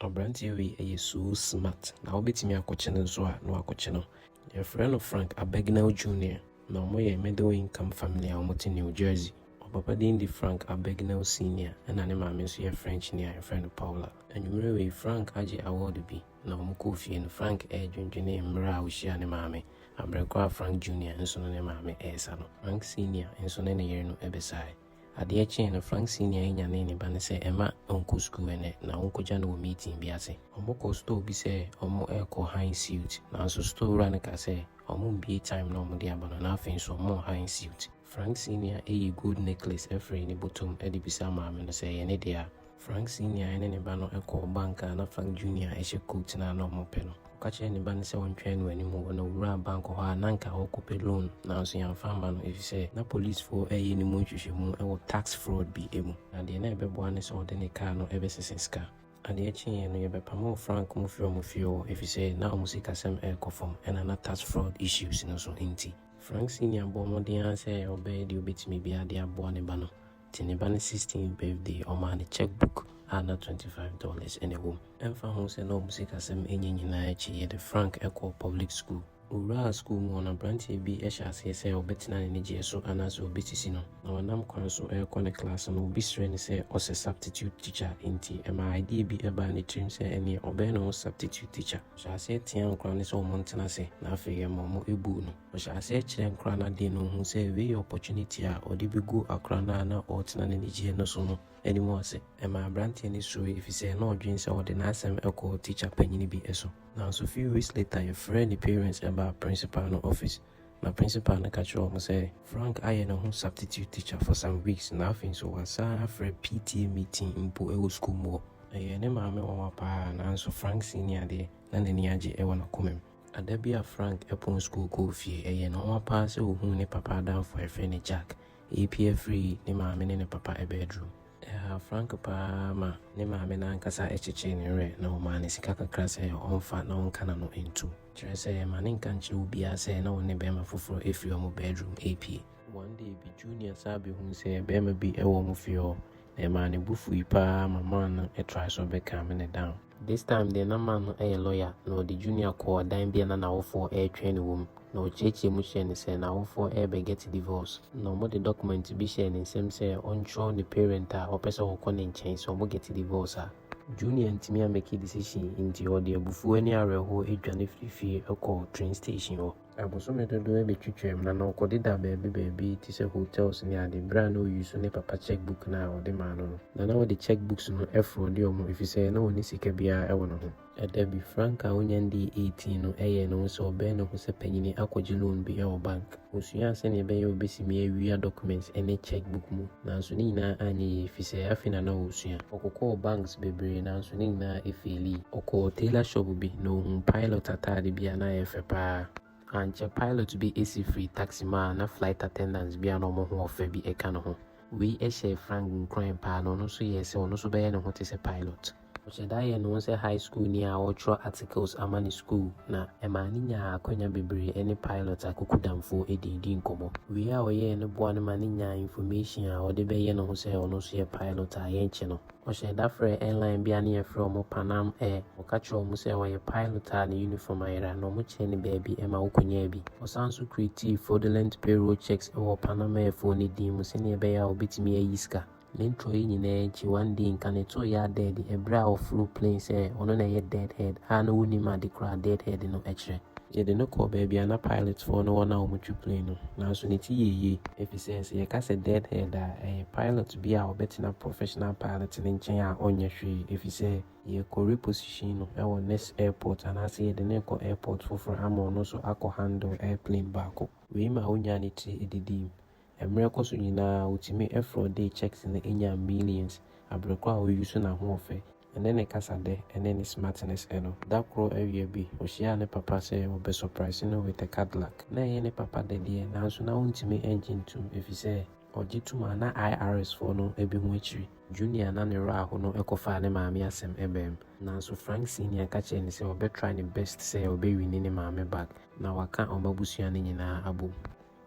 Abranteɛ wei yɛ so smart na wo bɛtumi akɔkye no nso a na wakɔkye no. Yɛfrɛ no Frank Abagnale Junior na wɔn yɛ middle income family a wɔte New Jersey. Ɔpapa din de Frank Abagnale Senior ɛna ne maame nso yɛ French ni a yɛfrɛ no Paula. Anwummerɛ wei Frank agye award bi na wɔn kɔɔ fie no Frank ɛredwendwene mmerɛ a ɔhyiaa ne maame abrɛ korɔ a Frank Junior nso ne ne maame ɛresa no. Frank Senior nso ne ne yere no ɛbɛsaeɛ. Adeɛ kyeeɛ no, Frank Senior nyanee ne ba no sɛ mma ɔnkɔ sukuu ɛnnɛ na ɔnkɔgya no wɔ meeting bi ase. Wɔkɔɔ store bi sɛ wɔrekɔ Heinz Suit, nanso store wura no kaa sɛ wɔmmue time na wɔde aba no na afei nso wɔwɔ Heinz Suit. Frank Senior yii gold necklace firii ne bɔtɔ mu de bisaa maame no sɛ ɛyɛ ne dea. Frank Senior ne ne ba no kɔɔ bank a na Frank Junior hyɛ coat no a na wɔpɛ no. Ɔka kyerɛɛ ne ba no sɛ ɔntwɛn no anim hɔ na owuraa bank hɔ a na anka ɔrekɔpɛ loan nanso yɛamfa amma no efisɛ na polisifo reyɛ ne mu nhwehwɛmu wɔ tax fraud bi mu na deɛ na ɛbɛboa ne sɛ ɔde ne car no bɛsesa sika. Adeɛ kyeeɛ no yɛbɛpamoo Frank mu firii wɔn fie hɔ efisɛ na wɔn sikasɛm rekɔ fam ɛna na tax fraud issues no nso nti Frank Senior bɔɔ mmɔden ara sɛ ɔbɛyɛ deɛ ɔbɛtumi biara de aboa ne ba no. Te ne ba no 16th birthday ɔmaa no check book a na twenty five dollars na ɛwɔ mu. Ɛmfa ho sɛ na wɔn sikasɛm nyɛ nyinaa akyi, yɛde Frank kɔɔ public school. Ɔwuraa school mu hɔ no, aberanteɛ bi hyɛ aseɛ sɛ ɔbɛtena ne nigyeɛ so anaasɛ ɔbɛsisi no. Na ɔnam kwan so rekɔ ne class no, obi srɛɛ no sɛ ɔsɛ substitute teacher, enti ɛmaa idea bi baa ne tirim sɛ ɛnneɛ ɔbɛyɛ ne ho substitute teacher. Ɔhyɛɛ aseɛ teaa nkwadaa no sɛ wɔntena ase, na afei ɛma wɔbuu no. Ɔhyɛ aseɛ kyerɛ nkora no adeɛ no ɔhu sɛ wei yɛ opportunity a ɔde bɛgu akora no a na ɔretena n'anigyeɛ no so no anim ase. Ɛmaa aberanteɛ no suroe ɛfiri sɛ na ɔdwene sɛ ɔde n'asɛm kɔ tikya panyini bi so. Nanso few weeks later yɛfrɛɛ ne parents baa principal no office na principal no ka kyerɛɛ wɔn sɛ Frank ayɛ ne ho substitute teacher for some weeks na afei nso wasan afrɛ PTA meeting mpo wɔ sukuu mu hɔ. Ɛyɛɛ ne maame nwanwa paa nanso Frank Senior deɛ na n'ani agye wɔ n'akomam. Da bi a Frank pɔn sukuu kɔɔ fie, ɛyɛɛ no nwanwa paa sɛ ɔhuu ne papa adamfo a yɛfrɛ no Jack repue afiri ne maame ne ne papa bɛdrum. Ɛhaa Frank paa ma ne maame no ankasa kyekyee ne werɛ na ɔmaa no sika kakra sɛ ɔmfa na ɔnka n'ano ntom, kyerɛ sɛ, mma ne nka nkyerɛ obiara sɛ na ɔne bɛrima foforɔ afiri wɔn bɛdrum repue. One day bi, Junior san bɛhuu sɛ bɛrima bi wɔ wɔn fie hɔ, Ɛmaa ne bo fui paa ma man no try so bɛ calm no down. This time deɛ na man no yɛ lawyer na ɔde Junior kɔɔ ɛdan bi a na n'awofoɔ retwɛn no wɔ mu na ɔkyeakyea mu hyɛɛ no sɛ n'awofoɔ rebɛ get divorce na ɔmo de document bi hyɛɛ ne nsam sɛ ɔntwerɛ ne parent a ɔpɛ sɛ ɔkɔ ne nkyɛn sɛ ɔmo get divorce a. Junior antumi ammake decision nti ɔde abufuo ne awerɛhoɔ dwane firii fie kɔɔ train station hɔ. Abosome dodoɔ bɛtwitwaam na na ɔkɔde da baabi baabi te sɛ hotels ne ade berɛ a na ɔyi so ne papa cheque book no a ɔde maa no no. Na na ɔde cheque books no frɔ de wɔn ɛfiri sɛ na ɔnni sika biara wɔ ne ho. Da bi, Frank a ɔnya ndii 18 no ɛyɛɛ ne ho sɛ ɔbɛyɛ ne ho sɛ panyini akɔgye loan bi wɔ bank. Ɔsuaa sɛdeɛ ɛbɛyɛ a ɔbɛsimi awia documents ne cheque book mu. Nanso ne nyinaa anyɛ yie efisɛ afei na na ɔresua. Ɔkokɔɔ banks bebree nanso ne nyinaa efeeli. Ɔkɔɔ tailor shop bi na ohuu pilot ataade bi a na ɛyɛ fɛ paa. Ankyɛ pilot bi si firii taxi mu a na flight attendants bi a na wɔn ho wɔ fɛ bi ka ne ho. Wei hyɛɛ Frank nkuran paa na ɔno nso yɛɛ sɛ ɔno nso bɛyɛ ne ho te sɛ pilot. Ɔhyɛ da yɛ ne ho sɛ high schoolni a ɔretwerɛ articles ama ne sukuu, na ɛmaa no nyaa akwanya bebree ne pilot Akuku Damfoɔ dii dii nkɔmmɔ. Wei a ɔyɛeɛ no boa no ma no nyaa information a ɔde bɛyɛ ne ho sɛ ɔno nso yɛ pilot a yɛnkyɛ no, ɔhyɛɛ da frɛɛ airline bi a ne yɛfrɛ wɔn Pan Am Air, ɔka kyerɛɛ wɔn sɛ ɔyɛ pilot a ne uniform ayera, na wɔkyerɛɛ no baabi ma ɔkɔnyaa bi. Ɔsan nso createe fraudulent payroll checks wɔ Pan Am Air foɔ no din mu sɛdeɛ ɛbɛyɛ a ɔbɛtumi ayi sika. Ne ntorɔ yi nyinaa akyi, one day Nkane too Yaa dead ɛberɛ a ɔforo plane sɛ ɔno na ɛyɛ dead head a na wonnim ade koraa a dead head no kyerɛ. Yɛde no kɔɔ baabi a na pilot foɔ ne wɔn a wɔtwe plane no, nanso ne ti yɛɛ yie. Efisɛ sɛ yɛka sɛ dead head a, ɛyɛ pilot bi a ɔbɛtena professional pilot no nkyɛn a ɔnyɛ hwee efisɛ yɛkɔ reposition no wɔ next airport anaasɛ yɛde no rekɔ airport foforɔ ama ɔno nso akɔ handle airplane baako. Wei maa ɔnyaa ne tiri didii mu. Mmerɛ kɔ so nyinaa ɔtumi fraudee cheques no nyaa millions abrɛ koro a ɔuse n'ahoɔfɛ ne ne kasadɛ ne ne smartness no. Da koro awia bi ɔhyiaa ne papa sɛ ɔbɛ surprise no with a Cadillac. Na ɛyɛ ne papa dɛ deɛ nanso na ɔntumi ngye ntom ɛfisɛ ɔgye tom a na IRS foɔ no bɛhu akyiri. Junior na ne werɛ aho no kɔfaa ne maame asɛm baam nanso Frank Senior ka kyerɛɛ no sɛ ɔbɛ try ne best sɛ ɔbɛ winni ne maame back na waka wɔn abusua no nyinaa abom.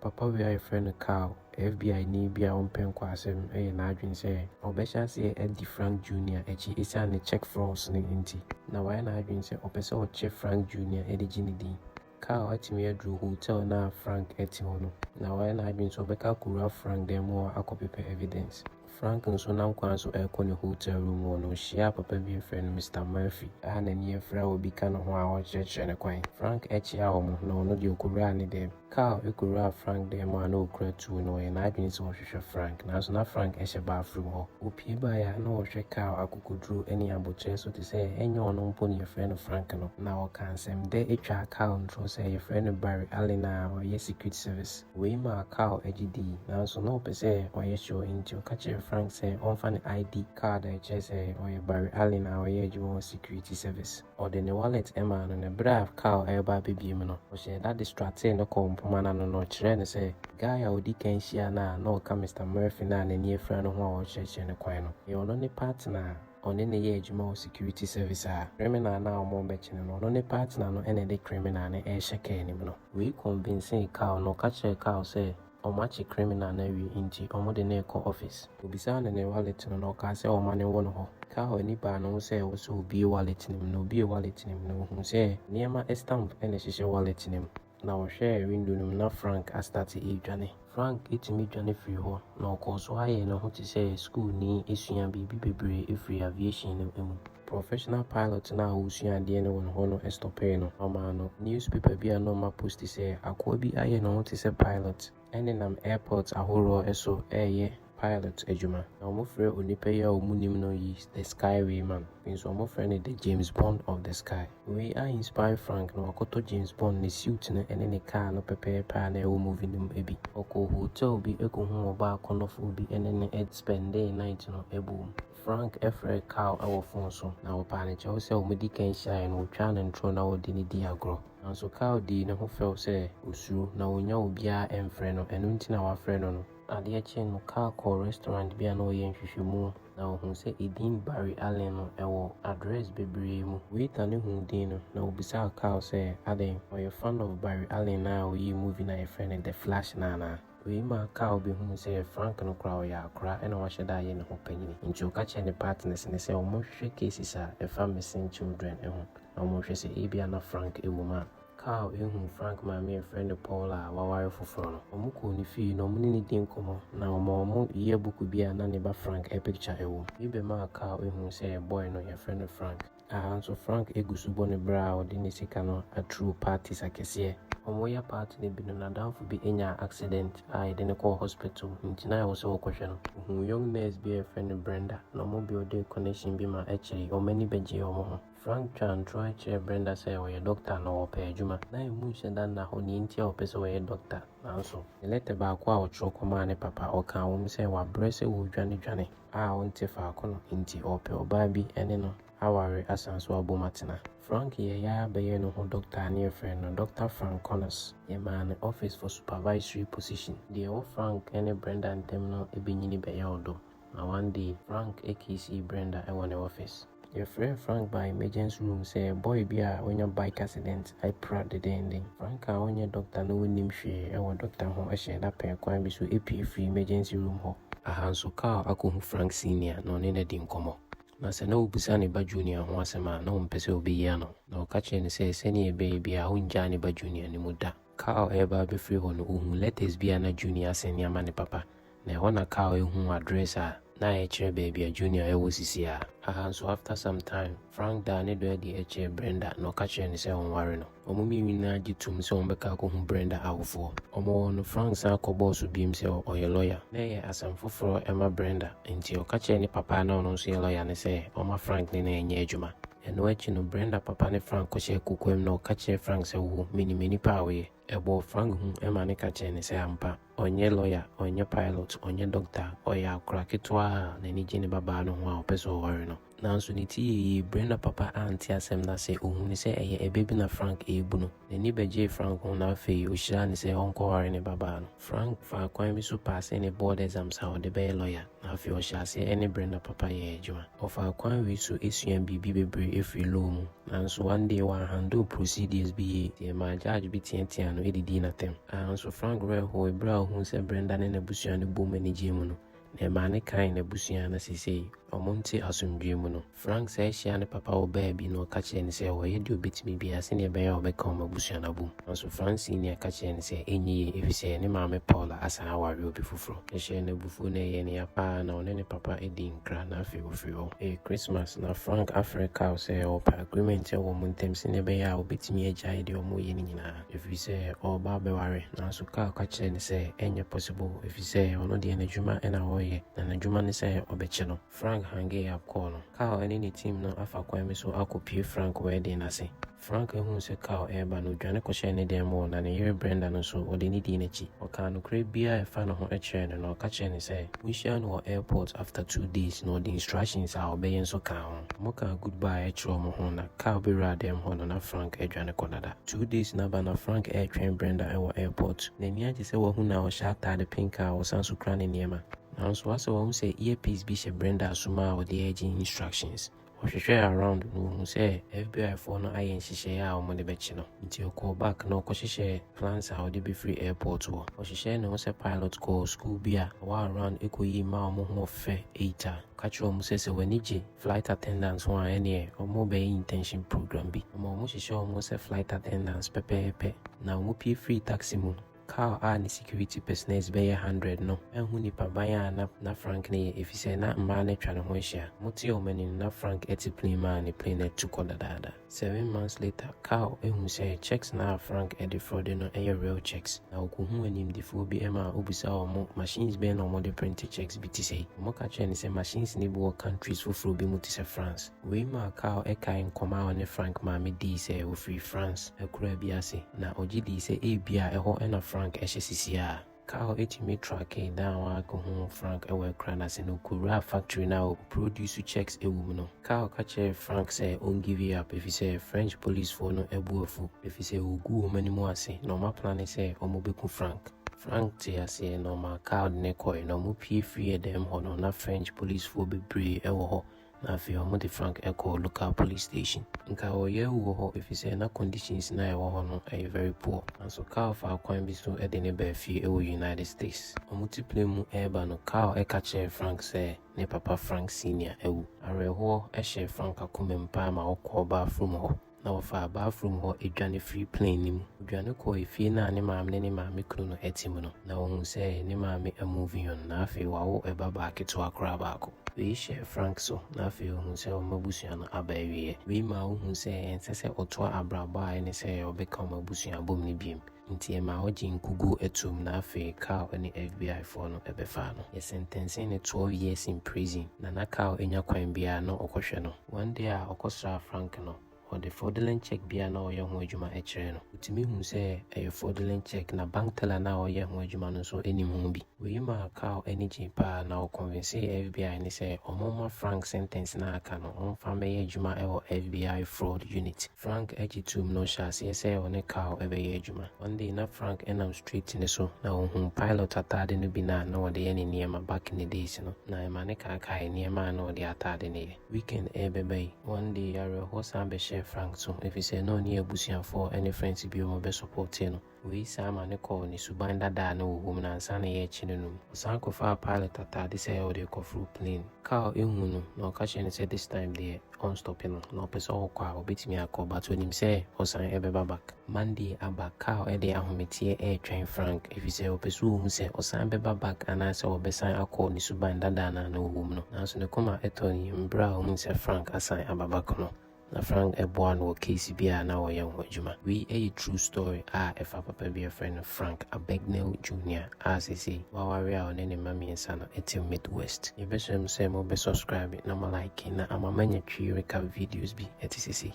Papa wei a yɛfrɛ no Carl, FBI-ni bi a ɔmpɛ nkoasɛm, yɛ n'adwene sɛ ɔbɛhyɛ aseɛ adi Frank Junior akyi ɛsiane ne check frauds no nti. Na wayɛ n'adwene sɛ ɔpɛ sɛ ɔkyɛ Frank Junior de gye ne din. Carl atumi aduru hotel no a Frank te hɔ no, na wayɛ n'adwene sɛ ɔbɛka akɔwura Frank dan mu hɔ akɔpepɛ evidence. Frank nso nam kwan so rekɔ ne hotel room hɔ no, ohyiaa papa bi afrɛ no Mister Murphy a n'ani afura a obi ka ne ho a ɔrekyerɛkyerɛ no kwan. Frank kyiaa wɔn, na ɔno deɛ okowuraa ne dan mu. Carl kowuraa Frank dan mu a na okura tuo, na ɔyɛ n'adwene sɛ ɔhwehwɛ Frank, nanso na Frank hyɛ bathroom hɔ. Opue baeɛ a na ɔhwɛ Carl akokoduro ne aboterɛ so te sɛ ɛnyɛ ɔno mpo na yɛfrɛ no Frank no. Na ɔkaa nsɛmdɛ twaa Carl ntorɔ sɛ yɛfrɛ no Barry Allen a ɔyɛ Secret Service. Wei maa Carl gye dii, nanso na ɔpɛ sɛ ɔyɛ sure, enti ɔka kyerɛɛ Frank sɛ ɔmfa ne ID kaad a ɛkyerɛ sɛ ɔyɛ Barry Allen a ɔyɛ adwuma wɔ Security Service. Ɔde ne wallet maa no, na bere a Carl reba abebue mu no, ɔhyɛɛ da de stratee no kɔɔ mpomma no ano na ɔkyerɛɛ no sɛ guy a odi kan hyiaa no a na ɔka Mister Murphy no a n'ani afura no ho a ɔrekyerɛkyerɛ no kwan no, ɛyɛ ɔno ne partner a ɔne no yɛ adwuma wɔ security service a criminal no a wɔrebɛkyene no, ɔno ne partner no na ɛde criminal no rehyɛ car anim no. Wei convincee Carl na ɔka kyerɛɛ Carl sɛ wɔakye criminal no awie nti wɔde no rekɔ office. Obisaa no ne wallet no na ɔkaa sɛ wɔma no wɔ ne hɔ. Carl ani baa ne ho sɛ ɛwɔ sɛ obue wallet no mu na obuee wallet no mu na ohuu sɛ nneɛma stamp na ɛhyehyɛ wallet no mu. Na ɔhwɛɛ windo no mu na Frank astate redwane. Frank tumi dwane firii hɔ, na ɔkɔɔ so ara yɛɛ ne ho te sɛ sukuuni sua biribi bebree firii aviation no mu. Professional pilot no a ɔresua adeɛ no wɔ ne hɔ no stɔpee no. Ɔmaa no newspaper bi a na ɔma posti sɛ, Akoa bi ayɛ ne ho te sɛ pilot. Ɛnenam airport ahoroɔ so reyɛ pilot adwuma. Na wɔfrɛ onipa yi a wɔn nim no yi The Sky Way Man. Afei nso wɔfrɛ no The James Bond of the Sky. Wei a inspire Frank na wakɔtɔ James Bond ne suit no ne ne car no pɛpɛɛpɛ a na ɛwɔ movie no mu bi. Ɔkɔɔ hotel bi kɔhuu ɔbaa akɔnnɔfoɔ bi ne no spendee night no boom. Frank frɛɛ Carl wɔ phone so na ɔpaa no kyɛw sɛ wɔdi kan hyiaeɛ no wɔtwaa no ntoro na wɔde no dii agorɔ. Nanso Kyle dii ne ho fɛw sɛ osuro, na onnya obiara mfrɛ no, ɛno nti na wafrɛ no no. Adeɛ kyee no, Kyle kɔɔ restaurant bi a na wɔyɛ nhwehwɛmu, na ɔhuu sɛ edin Barry Allen no wɔ address bebree mu. Waiter no huu din no, na obisaa Kyle sɛ, Adɛn, ɔyɛ fan of Barry Allen a oyii movie no a wɔfrɛ no The Flash no anaa? Wei ma Carl bɛhunuu sɛ Frank no koraa ɔyɛ akora na wahyɛ da ayɛ ne ho panyin. Enti ɔka kyerɛɛ ne partners no sɛ wɔnhwehwɛ cases a ɛfa missing children ho na wɔnhwɛ sɛ ebia na Frank wɔ mu a. Carl hunuu Frank maame a wɔfrɛ no Paula a waware foforo no. Wɔkɔɔ ne fie na wɔne no dii nkɔmmɔ, na ɔmaa wɔn yearbook bi a na ne ba Frank picture wom. Wei bɛmaa Carl hunuu sɛ boy no, wɔfrɛ no Frank. Aha nso Frank gu so bɔ ne bra a ɔde ne sika no atruo parties akɛseɛ. Wɔreyɛ party no bi no n'adamfo bi nyaa accident a yɛde no kɔɔ hospital nti na ɛwɔ sɛ wɔkɔhwɛ no. Ɔhuu young nurse bi a yɛfrɛ no Brenda na wɔn building connection bi ma akyire yi wɔn ani bɛgyee wɔn ho. Frank twaa ntorɔɛ kyerɛɛ Brenda sɛ ɔyɛ doctor na ɔpɛ adwuma. Na emu nhyɛ da nna hɔ nea enti a ɔpɛ sɛ ɔyɛ doctor nanso. Ne lɛtɛ baako a ɔtwerɛ kɔmaa ne papa ɔkaa wɔ mu sɛ wabrɛ sɛ ɔredwane dwane. a ɔnte faako no nti ɔrepɛ ɔbaa bi ne no aware asan so abom atena. Frank yɛe ara bɛyɛɛ ne ho dɔkta a na yɛfrɛ no Dɔkta Frank Connors. Yɛmaa no Office for Supervisory position. Deɛ ɛwɔ Frank ne Brenda ntam no bɛnyini bɛyɛ ɔdɔ, na one day Frank kissee Brenda wɔ ne office. Yɛfrɛɛ Frank baa emergency room sɛ boy bi a wanya bike accident apira dendenden. Frank a ɔnyɛ dɔkta na ɔnnim hwee wɔ dɔkta ho hyɛɛ da pɛɛ kwan bi so pue firii emergency room hɔ. Aha nso Carl akɔhu Frank Senior na ɔne no adi nkɔmmɔ. Na sɛ na ɔbisa ne ba Junior ho asɛm a, na ɔmpɛ sɛ ɔbɛyi ano. Na ɔka kyerɛɛ no sɛ sɛdeɛ ɛbɛyɛ biara ɔrennyaa ne ba Junior no mu da. Carl reba abɛfiri hɔ no, ɔhuu lɛtɛs bi a na Junior asɛn de ama ne papa, na ɛhɔ na Carl huu address a na ɛkyerɛ baabi a Junior wɔ sisiaa. Aha nso, after some time, Frank daa ne dɔ adi kyerɛɛ Brenda na ɔka kyerɛɛ no sɛ ɔnware no. Wɔn mmienu nyinaa gye toom sɛ wɔbɛka akɔhu Brenda awofoɔ. Wɔwɔ hɔ no, Frank san kɔbɔɔ so bio sɛ ɔyɛ lɔya. Na ɛyɛ asɛm foforɔ ma Brenda, enti ɔka kyerɛɛ ne papa a na ɔno nso yɛ lɔya no sɛ ɔmma Frank ne no nyɛ adwuma. Ɛno akyi no, Brenda papa ne Frank kɔhyɛɛ kokoam na ɔka kyerɛɛ Frank sɛ, Wo, minim nnipa a woyɛ. Ɛbɔɔ Frank hu ma no ka kyerɛɛ no sɛ ampa, ɔnyɛ lɔya, ɔnyɛ pilot, ɔnyɛ dɔkta, ɔyɛ akora ketewa a n'ani gye ne babaa no ho a ɔpɛ sɛ ɔware no. Nanso ne ti yɛɛ yie. Brenda papa ante asɛm no ase. Ɔhunuu sɛ ɛyɛ ɛbɛ bi na Frank rebu no. N'ani bɛgyee Frank ho na afei ɔhyiraa no sɛ ɔnkɔware ne babaa no. Frank faa kwan bi so paasee ne board exams a ɔde bɛyɛ lɔya, na afei ɔhyɛɛ aseɛ ne Brenda papa yɛɛ adwuma. Ɔfaa kwan wei so suaa biribi bebree firii law mu, nanso one day wanhandle procedures bi yie, nti ɛmaa judge bi teateaa no de dii n'atɛm. Aa nso Frank werɛ hooe berɛ a ɔhuu sɛ Brenda ne n'abusua no boom anigyee mu no. Nea ɛmaa ne kra yɛ n'abusua na seesei wɔnte asomdwoe mu no. Frank san hyiaa ne papa wɔ baabi na ɔka kyerɛɛ no sɛ ɔreyɛ deɛ ɔbɛtumi biara sɛdeɛ ɛbɛyɛ a ɔbɛka wɔn abusua no abom. Nanso Frank Senior ka kyerɛɛ no sɛ ɛnyɛ yie efisɛ ne maame Paula asan aware obi foforɔ. Ɛhyɛɛ no abufuo na ɛyɛɛ no ya pa ara na ɔne ne papa dii nkra na afei ɔfirii hɔ. Ɛyɛ Christmas na Frank afrɛ Carl sɛ ɔrepɛ agreement wɔ wɔn ntam sɛdeɛ ɛbɛyɛ a ɔbɛtumi agyae deɛ wɔreyɛ no nyinaa. ɛfiri sɛ ɔreba abɛware. Nanso Carl ka kyerɛɛ no sɛ ɛnyɛ possible ɛfiri sɛ ɔno deɛ n'adwuma na ɔreyɛ, na n'adwuma ne sɛ ɔbɛkye no. Frank hangee up kɔɔ no. Carl ne ne team no afa kwan bi so akɔpue Frank wedding no ase. Frank huu sɛ Carl reba no, ɔdwane kɔhyɛɛ ne dan mu hɔ, na ne yere Brenda no nso, ɔde no dii n'akyi. Ɔkaa nokorɛ biara a ɛfa ne ho kyerɛɛ no, na ɔka kyerɛɛ no sɛ wɔhyiaa no wɔ airport after two days, na ɔde instructions a ɔbɛyɛ nso kaa ho. Wɔkaa goodbye kyerɛɛ wɔn ho, na Carl bɛwuraa dan mu hɔ no, na Frank adwane kɔ dada. Two days no aba na Frank retwɛn Brenda wɔ airport. N'ani agye sɛ wahu no a ɔhyɛ ataade pink a ɔsan nso kura ne nneɛma. Nanso w'asɛ wahu sɛ earpiece bi hyɛ Brenda asom a ɔde regye instructions. Ɔhwehwɛɛ around na ɔhuu sɛ FBI foɔ no ayɛ nhyehyɛeɛ a wɔde bɛkye no. Nti ɔkɔɔ back na ɔkɔhyehyɛɛ plans a ɔde bɛfiri airport hɔ. Ɔhyehyɛɛ ne ho sɛ pilot kɔɔ school bi a ɛwɔ around kɔyii mmaa a wɔn ho ɔfɛ eight a ɔka kyerɛɛ wɔn sɛ sɛ w'ani gye Flight attendants ho a ɛneɛ ɔmo bɛyɛ internship program bi ama ɔmo hyehyɛ ɔmo sɛ flight attendants pɛpɛɛpɛ na ɔmo pue firi taxi mu no Carl a ne security personers bɛyɛ hundred no anhu nipa ban a na na Frank no yɛ efisɛ na mmaa no atwa ne ho ahyia ɔmo tee ɔmo ani no na Frank ɛte plane mu a ne plane no atu kɔ dadaada. Seven months later, Carl hu sɛ cheques no a Frank de frɔde no yɛ real cheques, na okohuu animdefoɔ bi ma obisaa wɔn machines bɛn na wɔde prente cheques bi te sɛi. Wɔka kyerɛɛ no sɛ machines no bi wɔ countries foforɔ bi mu te sɛ France. Wei maa Carl kaee nkɔmmɔ a ɔne Frank maame dii sɛ ɔfiri France akuraa bi ase, na ɔgye dii sɛ ebia ɛhɔ na Frank hyɛ sesiaa. Carl tumi trackee da a wakohu Frank wɔ akura no ase no kowuraa factory no a wɔproduce checks wɔ mu no. Carl ka kyerɛɛ Frank sɛ onngive up efisɛ French polisfoɔ no bo afu efisɛ wɔgu wɔn ani mu ase na wɔaplane sɛ wɔbɛku Frank. Frank tee aseɛ na ɔmaa Carl de no kɔe na wɔpue firii dan mu hɔ no na French polisfoɔ bebree wɔ hɔ Na afei ɔmo de Frank kɔɔ local police station. Nka ɔyɛ awu wɔ hɔ efisɛ na conditions no a ɛwɔ hɔ no yɛ very poor. Nanso Carl faa kwan bi so de no baa fie wɔ United States. Ɔmo te plane mu reba no, Carl ka kyerɛɛ Frank sɛ ne papa Frank Senior awu. Awerɛhoɔ hyɛɛ Frank akoma mu paa ma ɔkɔɔ bathroom hɔ. na wɔfaa bathroom hɔ dwane firii plane no mu. Wɔdwane kɔɔ efie no a ne maame ne ne maame kunu no te mu no, na wɔhuu sɛ ne maame a moving on, na afei wawo ba baa ketewa koraa baako. Wei hyɛɛ Frank so, na afei ɔhuu sɛ wɔn abusua no aba awieɛ. Wei maa ɔhuu sɛ ɛnsɛ sɛ ɔtoa abrabɔ a ɛne sɛ ɔbɛka wɔn abusua abom no biom. Nti ɛmaa ɔgyee nkugu toom na afei Carl ne FBI foɔ no bɛfaa no. Yɛsɛntɛnsee no 12 years in prison na na Carl nya kwan biara na ɔkɔhwɛ no. One day a ɔkɔsraa Frank no, ɔde fraudulent check bi a na ɔyɛ ho adwuma kyerɛɛ no. Ɔtumi huu sɛ ɛyɛ fraudulent check na bank teller no a ɔyɛ ho adwuma no nso nim ho bi. Wei maa Carl ani gyee paa na ɔconvinsee FBI no sɛ wɔmma Frank sentɛnse no a aka no wɔmfa mmɛyɛ adwuma wɔ FBI Fraud Unit. Frank gye toom na ɔhyɛɛ aseɛ sɛ ɔne Carl bɛyɛ adwuma. One day na Frank nam street no so na ɔhuu pilot ataade no bi no a na ɔde yɛ ne nneɛma back in the days no na ɛma no kaakaee nneɛma a na ɔde ataade no yɛ. Weekend rebɛba yi, one day awerɛhoɔ san bɛhyɛɛ Frank so efisɛ na ɔne abusuafoɔ ne friends binom bɛsupportee no. Wei san ma no kɔɔ ne suban dada a na ɔwom no ansa na yɛrekye no no mu. Ɔsan kɔfaa pilot ataade sɛ ɔde rekɔforo plane. Carl hu no na ɔka kyerɛ no sɛ this time deɛ ɔnstɔpe no na ɔpɛ sɛ ɔkɔ a ɔbɛtumi akɔ but ɔnim sɛ ɔsan bɛba back. Monday aba, Carl de ahometeɛ retwɛn Frank efisɛ ɔpɛ sɛ ɔhu sɛ ɔsan bɛba back anaasɛ ɔbɛsan akɔ ne suban dada no a na ɔwom no. Nanso ne koma tɔ ne yam berɛ a ɔhunu sɛ Frank asan aba back no. Na Frank boaa no wɔ case bi a na ɔyɛ ho adwuma. Wei yɛ true story a ɛfa papa bi a yɛfrɛ no Frank Abagnale Junior a seesei waware a ɔne ne mma mmiɛnsa no te Midwest. Yɛbɛsrɛ mo sɛ mobɛ subscribe na mo like na ama manya twi reka videos bi te sɛ sei.